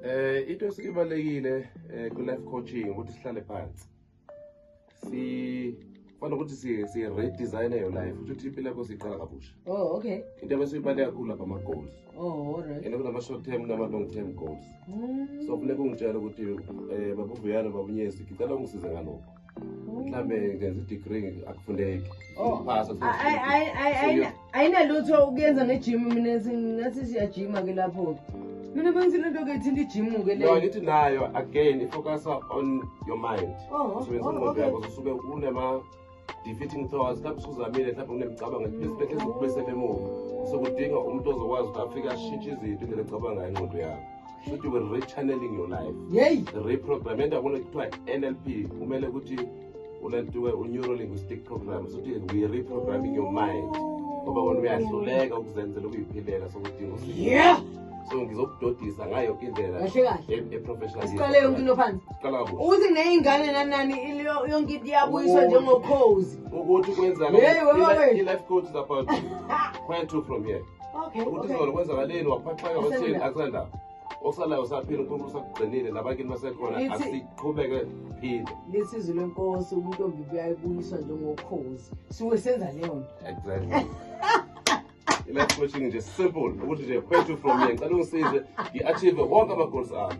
Eh into esibalekile eh, ku life coaching ukuthi sihlale phansi. Si Fana ukuthi si si redesign your life ukuthi impilo yakho siqala kabusha. Oh okay. Into ebesibaleka kakhulu lapha ama goals. Oh alright. Ene kunama short term nama long term goals. Mm. So kufuneka ungitshela ukuthi eh babuvuyana babunyezi ngicela ungisize ngalokho. mhlawumbe ngenza idegree akufundeki oh. ayinalutho ukuyenza ngejim mina nathi siyajima ke lapho-ke mina bengithi lento ke thinta ijimu-ke leyo ngithi nayo again ifocusa on your mind oh, usebenzisa oh, ingqondo yakho usuke unema defeating thoughts lapho usuzamile mhlawumbe unemicabango esibhedlela ezokubuyisela emuva sokudinga umuntu ozokwazi ukuthi afike ashintshe izinto indlela ecabangayo ingqondo yakho shuthi we rechanneling your life yeyi reprogram enda kule kuthiwa nlp kumele ukuthi unantuke u-neurolinguistic program sokuthi we reprogramming your mind ngoba kona uyahluleka ukuzenzela ukuyiphilela sokudinga usizo yeah so ngizokudodisa ngayo yonke indlela kahle kahle e- e-professional siqale yonke into phansi siqala kuhle ukuthi neyingane nanani ilo- yonke into iyabuyiswa Oh. njengokhozi ukuthi kwenzani Hey, wewe, wewe. i-life coach is about where to from here Okay, ukuthi okay. izolo kwenzakaleni waphaxeka wathini akusandaba okusalayo usaphila unkulunkulu usakugcinile nabakini basekhona Lithi- asiqhubeke phinde lisizi lwenkosi ubuntombi buyayibuyiswa njengokhozi siwe senza leyo nto exactly i-life coaching nje simple ukuthi nje kwethu from ye ngicela ungisize ngi-achieve wonke ama-goals ami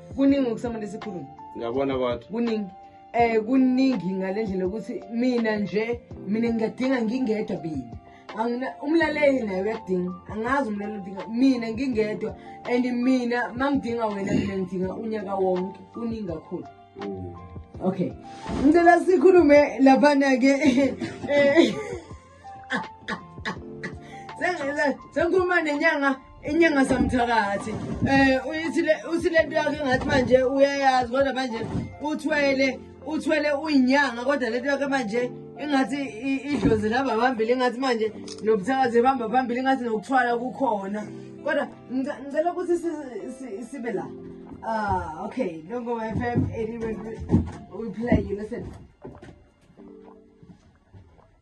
kuningi okusamane sikhulume ngiyabona kodwa kuningi eh kuningi ngalendlela ukuthi mina nje mina ngiyadinga ngingedwa bini angina umlaleli naye uyadinga angazi umlaleli udinga mina ngingedwa and mina mangidinga wena mina ngidinga unyaka wonke kuningi kakhulu mm. okay ngicela sikhulume laphana ke eh, sengikhuluma nenyanga inyanga samthakathi um usilento yakhe ngathi manje uyayazi kodwa manje uthwele uthwele uyinyanga kodwa lento yakhe manje ingathi idlozi lihamba phambili ingathi manje nobuthakazi ehamba phambili ingathi nokuthwala kukhona kodwa ngicela ukuthi sibe la ah okay longo f m anyway we play you listen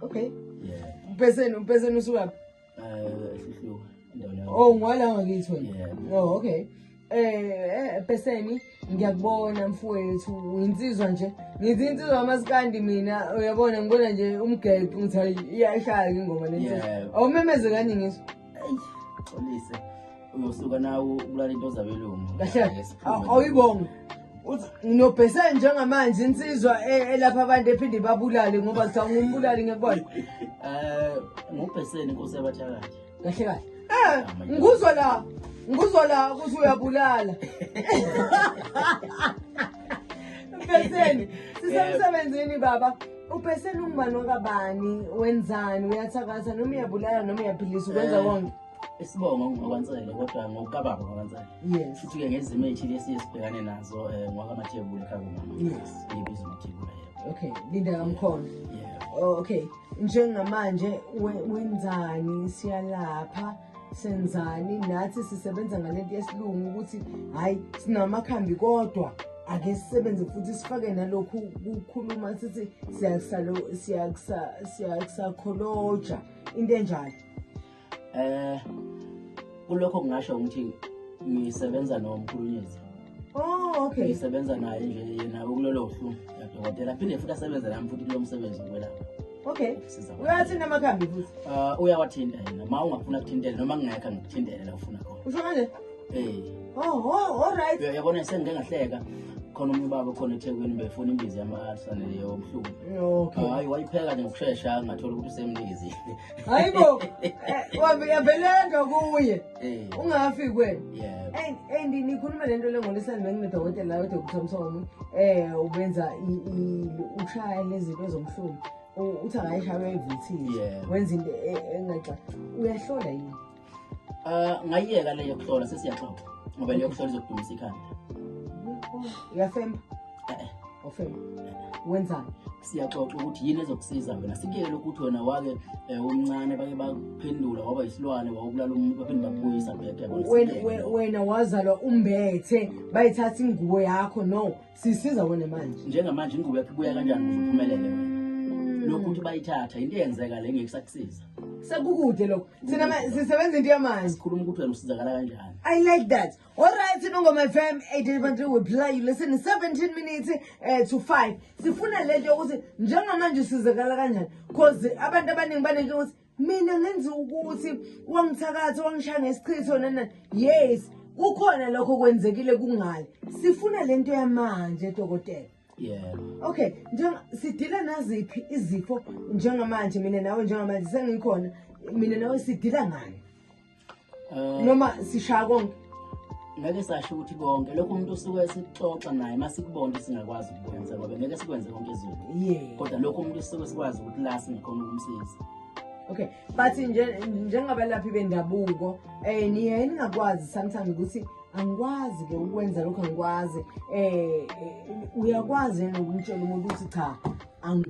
okay yeah umpeseni umpeseni usukaphi eh sihluka endaweni yakho oh ngwala ngakithi wena Yeah. oh okay eh peseni ngiyakubona mfowethu uyinsizwa nje ngithi insizwa amasikandi mina uyabona ngibona nje umgeqo ngithi hayi iyashaya ke ingoma nentsizwa Yeah. awumemeze kanye ngisho eyi xolise uyosuka nawo ukulala into zabelungu awuyibonga nginobhese njengamanje insizwa e- elapha abantu ephinde babulale ngoba kuthiwa ngumbulali ngekubona um eh, ngubheseni inkosi yabathakathi kahle kahle um ngikuzwa la ngikuzwa la ukuthi uyabulala bheseni sisemsebenzini baba Ubhesela ungubani wakabani wenzani uyathakatha noma uyabulala noma uyaphilisa ukwenza eh, konke. Isibongo ngokwansele kodwa ngokababa ngokwansele. Yes. Futhi ke ngezimo ezithile esiye sibhekane nazo eh, ngokwamathebula ekhaya komama. Yes. Ngibiza amathebula yebo. Okay, linda kamkhona. Yeah. Oh, okay. Njengamanje wenzani siyalapha? senzani nathi sisebenza ngalento yesilungu ukuthi hhayi sinamakhambi kodwa ake sisebenze futhi sifake nalokhu kukhuluma sithi siyakusakholoja into enjalo um kulokho kungasho ukuthi ngisebenza nomkhulunyezi Oh, okay. Ngisebenza naye nje yena ukulolo hlu yadokotela. Phinde futhi asebenze nami futhi kulo msebenzi wokwelapha. Okay. Uyathinta amakhambi futhi. Ah, uh, uyawathinta yena. Ma ungafuna kuthintela noma ngingekho ngikuthintele la ufuna khona. Usho kanje? Eh. Oh, oh, all right. Uyabona sengike ngahleka. khona omunye ubaba khona ethekwini befuna imbizi yamasane leyo obuhlungu okay hayi wayipheka nje ngokushesha ngathola ukuthi usemnikizile hayibo eh, wabeleka kuye Eh. ungafi kwena and nikhuluma le nto le ngolisani benginedokotela la udr msomi um eh, ubenza ushaya nezinto ezomhlungu uthi angayishaywa evithile wenza into e, engaxa uyahlola yini um ngayiyeka leyo kuhlola sesiyaxoxa ngoba leyo kuhlola izokudumisa ikhanda uyafemba ofela wenzani siyaxoxa ukuthi yini ezokusiza wena sikuyele ukuthi wena wake eh, umncane bake baphendula waba yisilwane wawubulala umuntu baphinde bakubuyisa bhekewena wazalwa umbethe bayithatha ingubo yakho no sisiza wena manje njengamanje ingubo yakho ibuya kanjani kuze uphumelele wena mm. lokhu ukuthi bayithatha into eyenzeka le ngeke sakusiza sekukude lokho thina sisebenza into yamanje sikhuluma ukuthi wena usizakala kanjani i like that Alright, Nongoma FM 88.3 we play you listen in 17 minutes uh, to 5. Sifuna lento yokuthi njengamanje usizakala kanjani because abantu abaningi banento ukuthi mina ngenza ukuthi wangithakatha wangishaya ngesichitho nana yes kukhona lokho kwenzekile kungale sifuna lento yamanje dokotela yeah okay njenga sidila naziphi izifo njengamanje mina nawe njengamanje sengikhona mina nawe sidila ngani noma sishaya konke ngeke sasho ukuthi konke lokho umuntu usuke sixoxa naye uma sikubona singakwazi ukukwenza ngoba ngeke sikwenze konke izulu kodwa lokho umuntu usuke sikwazi ukuthi la singekhona ukumsiza okay but njengabalaphi bendabuko um niye ningakwazi sometimes ukuthi angikwazi ke ukwenza lokhu angikwazi um uyakwazi yena ukumtshela umuntu ukuthi cha